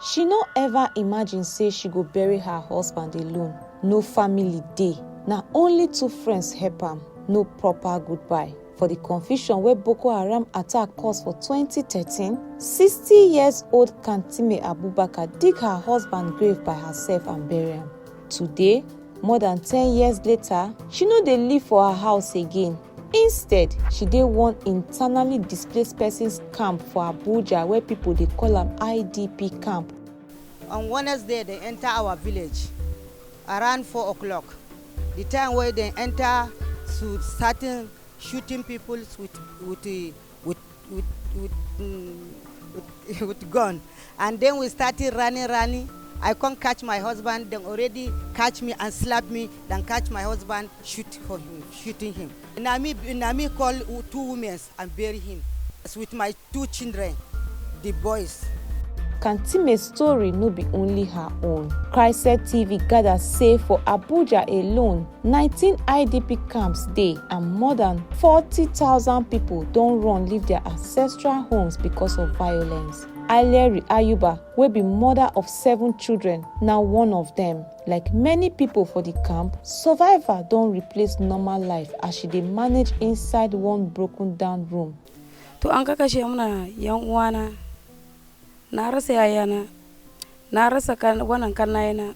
She no ever imagine say she go bury her husband alone, no family dey, na only two friends help am, no proper goodbye. For di confusion wey Boko Haram attack cause for twenty thirteen, sixty years old Kantime Abubakar dig her husband grave by herself and bury am. Today, more than ten years later, she no dey live for her house again. instead she dey one internally displaced persons camp for abuja where pipo dey call am idp camp. on wednesday dem enta our village around four o'clock di time wey dem enta to starting shooting pipo wit wit. with with with mm, with, with gun and then we started running running i come catch my husband dem already catch me and slap me then catch my husband shoot for him shooting him na me na me call two women and bury him with my two children the boys Kantime story no be only her own. Christ TV gather say for Abuja alone, 19 idp camps dey and more than 40000 pipo don run leave dia ancestral homes becos of violence alheri ayuba wey be mother of seven children na one of dem like many pipo for di camp survivor don replace normal life as she dey manage inside one broken down room to an ka kashe muna yan uwana na rasa yayana na rasa wannan kannayena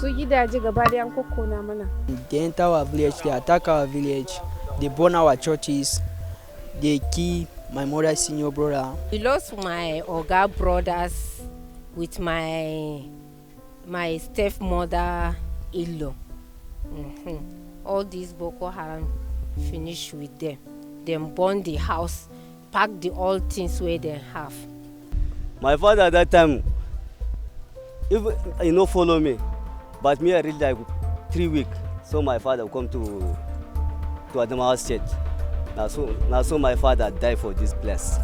su gidaje gaba da an kokkona mana they enter our village they attack our village they burn our churches they kill my mother senior brother i lost my oga brothers with my my stepmother in-law mm -hmm. all these boko haram finish with them dem burn the house pack the all things wey dem have. My father that time, even he no follow me, but me I reach like three week. So my father come to to Adamawa State. Na so na so my father die for this place.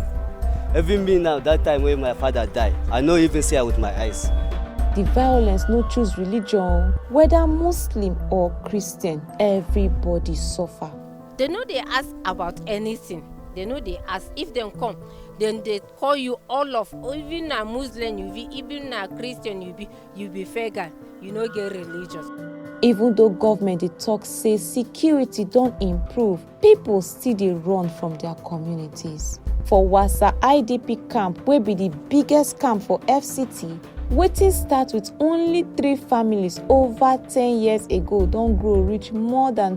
Even me now, that time when my father die, I no even see her with my eyes. The violence no choose religion, whether Muslim or Christian, everybody suffer. dem no dey ask about anything dem no dey ask if dem come dem dey call you all of even na muslim you be even na christian you be you be pagan you no get religion. even though government dey talk say security don improve people still dey run from their communities for wassa idp camp wey be di biggest camp for fct wetin start with only three families over ten years ago don grow reach more than.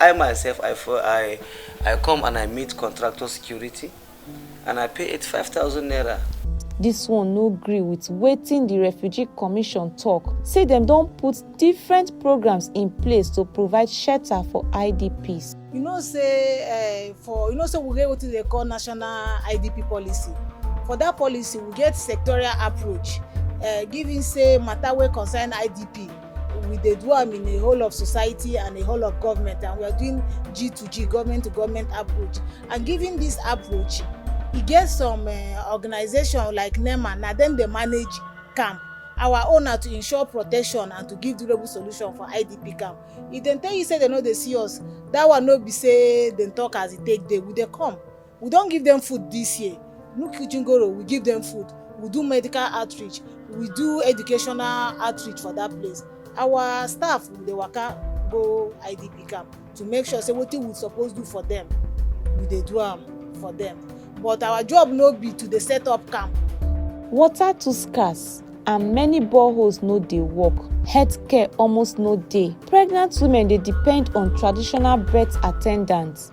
I myself I for I I come and I meet contractor security and I pay 85000 naira. Dis one no gree wit wetin di Refugee Commission tok say dem don put different programs in place to provide shelter for IDPs. You know say eh, for you know say we get wetin dey call national IDP policy. For that policy, we get sectorial approach, eh, giving say matter wey concern IDP. we dey do am in a whole of society and a whole of government and we are doing G to G government to government approach and given this approach e get some uh, organization like NEMA na dem dey manage camp our own na to ensure protection and to give durable solution for IDP camp if dem tell you say dem no dey see us that one no be say dem talk as e take dey we dey come We don give dem food dis year, Nu Kitchen Goro we give dem food, we do medical outreach, we do educational outreach for dat place. Our staff we dey waka go IDP camp to make sure sey wetin we suppose do for dem, we dey do am for dem. But our job no be to dey set up camp. Water too scarce and many boreholes no dey work, health care almost no dey, pregnant women dey depend on traditional birth attendants,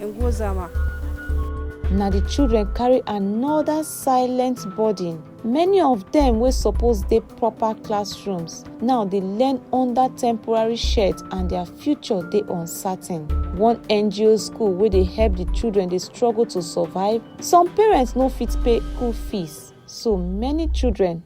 Ngozama. Na the children carry another silent burden. Many of them wey suppose dey proper classrooms now dey learn under temporary shade and their future dey uncertain. One NGO school wey dey help the children dey struggle to survive. Some parents no fit pay school fees so many children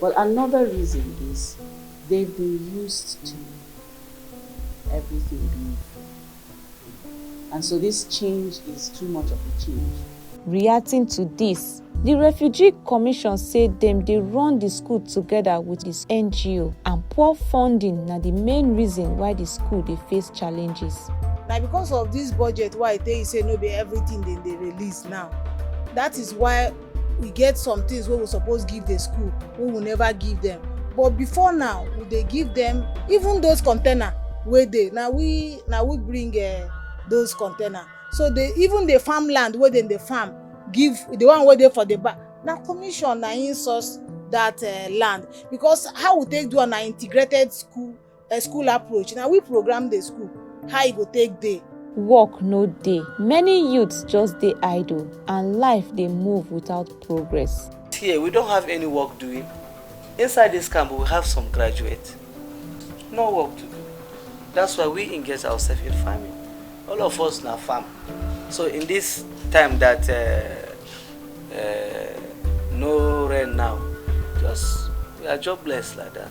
But another reason is they've been used to everything being free. And so this change is too much of a change. Reacting to this, the Refugee Commission say dem dey run the school together with its NGO and poor funding na the main reason why the school dey face challenges. na because of this budget why e tey say no be everything dem dey release now that is why we get some things wey we suppose give the school wey we never give them but before now we dey give them even those container wey dey na we na we bring uh, those container so the even the farmland wey dem dey farm give the one wey dey for the back na commission na im source that uh, land because how we take do am na integrated school A school approach, na we program the school, how e go take dey. Work no dey, many youths just dey idle and life dey move without progress. Here we don't have any work doing. Inside this camp we have some graduates. No work to do. That's why we engage ourselves in farming. All of us now farm. So in this time that uh, uh, no rain now, just we are jobless like that.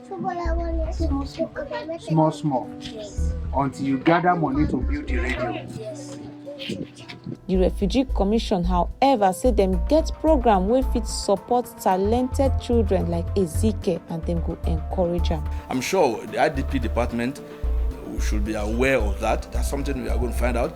Small, small. Small, small. Yes. Until you gather money to build the radio. Yes. The Refugee Commission, however, say dem get program wey fit support talented children like Ezike and dem go encourage am. I'm sure the IDP department should be aware of that. That's something we are going to find out.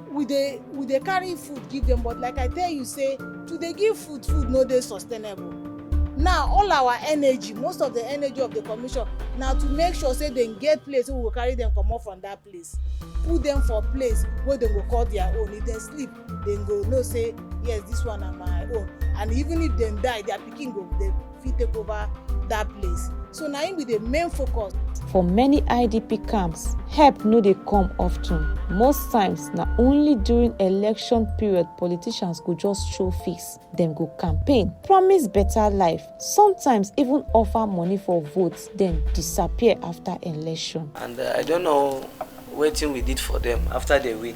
we dey we dey carry food give them but like i tell you say to dey give food food no dey sustainable now all our energy most of the energy of the commission na to make sure say dem get place wey we go carry dem comot from that place put dem for place wey dem go call their own if dem sleep dem go know say yes this one na my own and even if dem die their pikin go dey fit take over that place so na im be the main focus. for many idp camps help no dey come often most times na only during election period politicians go just show face dem go campaign promise better life sometimes even offer money for votes then disappear after election. and uh, i don't know wetin we did for them after they win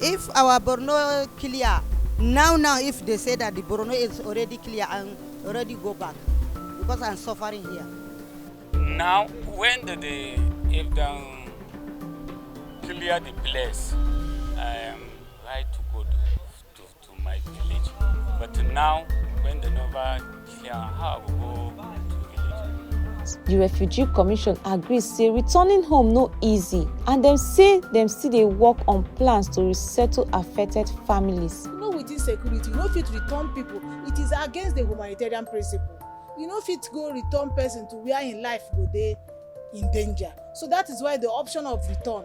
If our Borno clear now now if they say that the Borno is already clear and already go back because I'm suffering here. Now when the, the if them clear the place, I am right to go to, to, to my village. But now, when the Nova clear, how I go go to village? di refugee commission agree say returning home no easy and dem say dem still dey work on plans to resettle affected families. you know with insecurity you no fit return people it is against the humanitarian principle you no fit go return person to where im life go dey in danger so that is why the option of return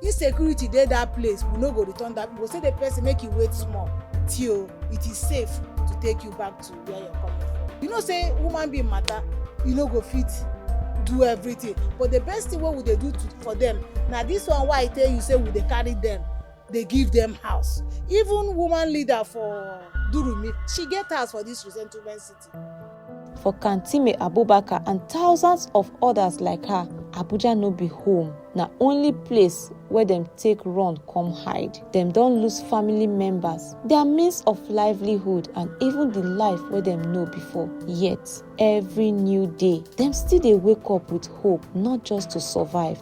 If security dey that place, we no go return that. We go say the person make you wait small till it is safe to take you back to where you're coming from. You know say woman being matter, you no go fit do everything. But the best thing wey we dey do to, for them na this one why I tell you say we dey carry them, dey give them house. Even woman leader for Durumi, she get house for this resettlement city. For Kantime Abubakar and thousands of others like her, Abuja no be home, na only place where dem take run come hide. Dem don lose family members, their means of livelihood and even the life wey dem know before. Yet, every new day, dem still dey wake up with hope not just to survive,